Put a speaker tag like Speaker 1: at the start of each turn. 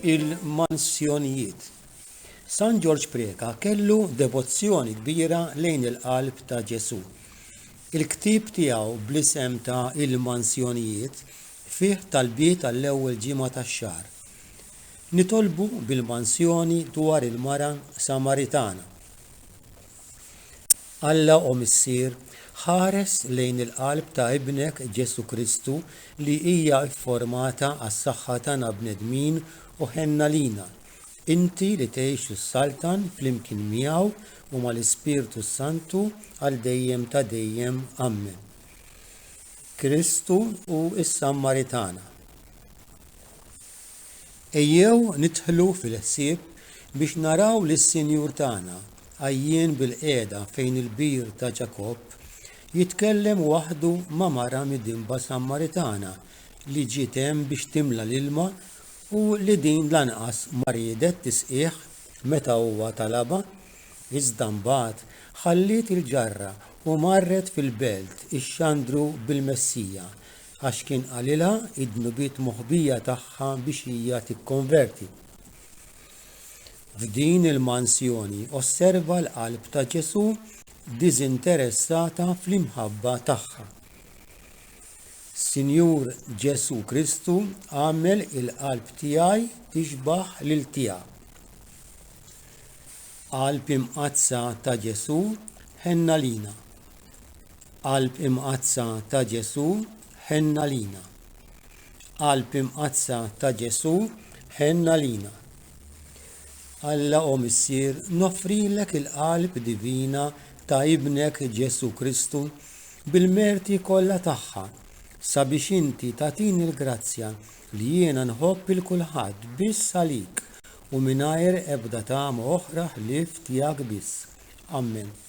Speaker 1: Il-Mansjonijiet San Ġorġ Preca kellu devozzjoni kbira lejn il-Qalb ta' Ġesù. Il-ktieb tiegħu bl-isem ta' Il-Mansjonijiet fih talbiet għall-ewwel ġimgħa tax-xahar. Nitolbu bil-mansjoni dwar il-mara Samaritana Alla, O Missier, ħares lejn il-qalb ta' Ibnek Ġesù Kristu li hija fformata għas-saħħa tagħna bnedmin u ħenna lina. Inti li tgħix u ssaltan flimkien miegħu u mal-Ispirtu s-Santu għal dejjem ta' dejjem. Ammen. Kristu hu s-Sammaritana. Ejjew nidħlu fil-ħsieb biex naraw lis-Sinjur tagħna għajjien bil-qiegħda fejn il-bir ta' Ġakobb, jitkellem waħdu ma' mara midinba Sammaritana li ġiet hemm biex timla l-ilma u li din lanqas ma riedet tisqih meta huwa talabha, iżda mbagħad ħalliet il-ġarra u marret fil-belt ixxandru bil-Messija, għax kien qalilha id-dnubiet moħbija tagħha biex hija tikkonverti. F'din il-mansjoni osserva l-qalb ta' Ġesù diżinteressata fl-imħabba tagħha. Sinjur Ġesù Kristu għamel il-qalb tiegħi tixbaħ lil tiegħek. Qalb imqaddsa ta' Ġesù ħenna lina. Qalb imqaddsa ta' Ġesù, ħenn għalina. Qalb imqaddsa ta' Ġesù, ħenn għalina. Alla o Missier, noffrilek il-qalb divina ta' Ibnek Ġesù Kristu bil-merti kollha tagħha sabiex inti tagħtini l-grazzja li jiena nħobb il kulħadd biss għalik u mingħajr ebda tama oħra ħlief tiegħek biss. Ammen.